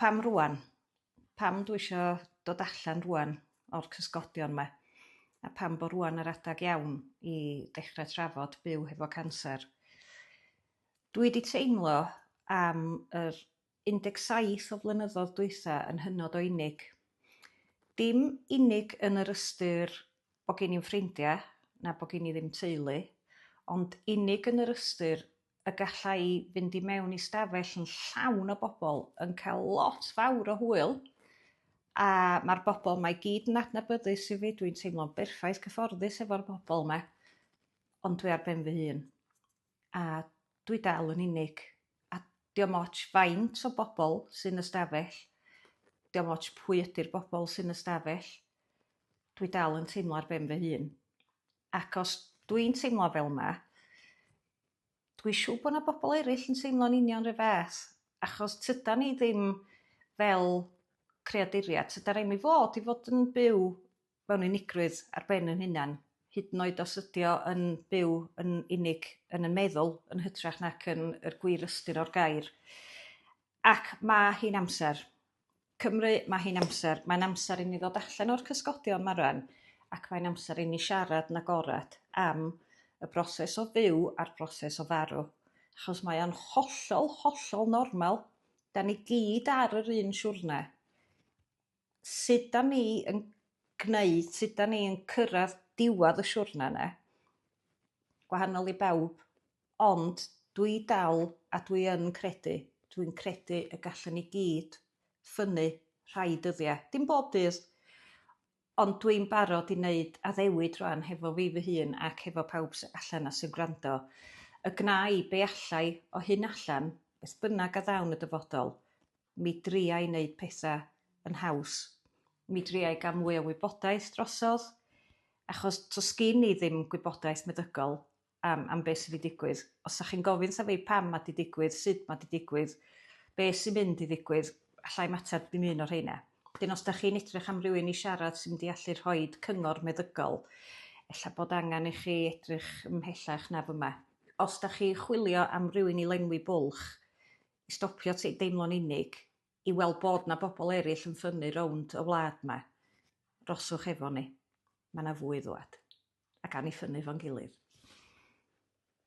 pam rŵan? Pam dwi isio dod allan rŵan o'r cysgodion 'ma? A pam bo' rŵan yr adag iawn i dechre trafod byw hefo canser? Dwi 'di teimlo am yr 17 o flynyddodd dwytha yn hynod o unig. Dim unig yn yr ystyr bo' gin i'm ffrindia, na bo' gin i ddim teulu, ond unig yn yr ystyr y galla i fynd i mewn i stafell yn llawn o bobl yn cael lot fawr o hwyl, a mae'r bobl mae i gyd yn adnabyddus i fi, dwi'n teimlo'n berffaith cyfforddus efo'r bobl 'ma, ond dwi ar ben fy hun. a dwi dal yn unig a diom ots faint o bobl sy'n y stafell diom ots pwy ydi'r bobl sy'n y stafell dwi dal yn teimlo ar ben fy hun ac os dwi'n teimlo fel 'ma dwi siŵr bod 'na bobl eraill yn teimlo'n union 'run fath achos tydan ni ddim fel creaduriaid tydan ni'm i fod i fod yn byw mewn unigrwydd ar ben yn hunan, hyd yn oed os ydi o yn byw yn unig yn yn meddwl yn hytrach nac yn yr gwir ystyr o'r gair. Ac ma' hi'n amser. Cymru, ma' hi'n amser. Mae'n amser i ni ddod allan o'r cysgodion 'ma rwan ac mae'n amser i ni siarad yn agored am y broses o fyw a'r broses o farw. Achos mae o'n hollol, hollol normal. 'Dan ni gyd ar yr un siwrne. sud 'dan ni yn gneud sud 'dan ni yn cyrradd diwadd y siwrne 'ne gwahanol i bawb ond dwi dal a dwi yn credu dwi'n credu y gallwn ni gyd ffynnu rhai dyddie. Dim bob dydd ond dwi'n barod i wneud addewid rwan hefo fi fy hun ac hefo pawb sy allan a sy'n gwrando y gna i be allai o hyn allan beth bynnag a ddawn y dyfodol Mi dria i wneud pethau yn haws. Mi dria i gael mwy o wybodaeth drosodd, achos does gen i ddim gwybodaeth meddygol am, am beth sydd wedi digwydd. Os ydych chi'n gofyn wrtha fi pam mae wedi digwydd, sut mae wedi digwydd, beth sy'n mynd i ddigwydd, allai ymateb ddim un o'r rheina. Wedyn os ydych chi'n edrych am rywun i siarad sy'n mynd i allu rhoi cyngor meddygol, efallai bod angen i chi edrych ymhellach na fyma. Os ydych chi'n chwilio am rywun i lenwi bwlch, i stopio t- deimlo'n unig, i weld bod 'na bobl eraill yn ffynnu rownd y wlad 'ma, rhoswch efo ni, ma' 'na fwy i ddŵad, ac awn ni ffynnu 'fo'n gilydd.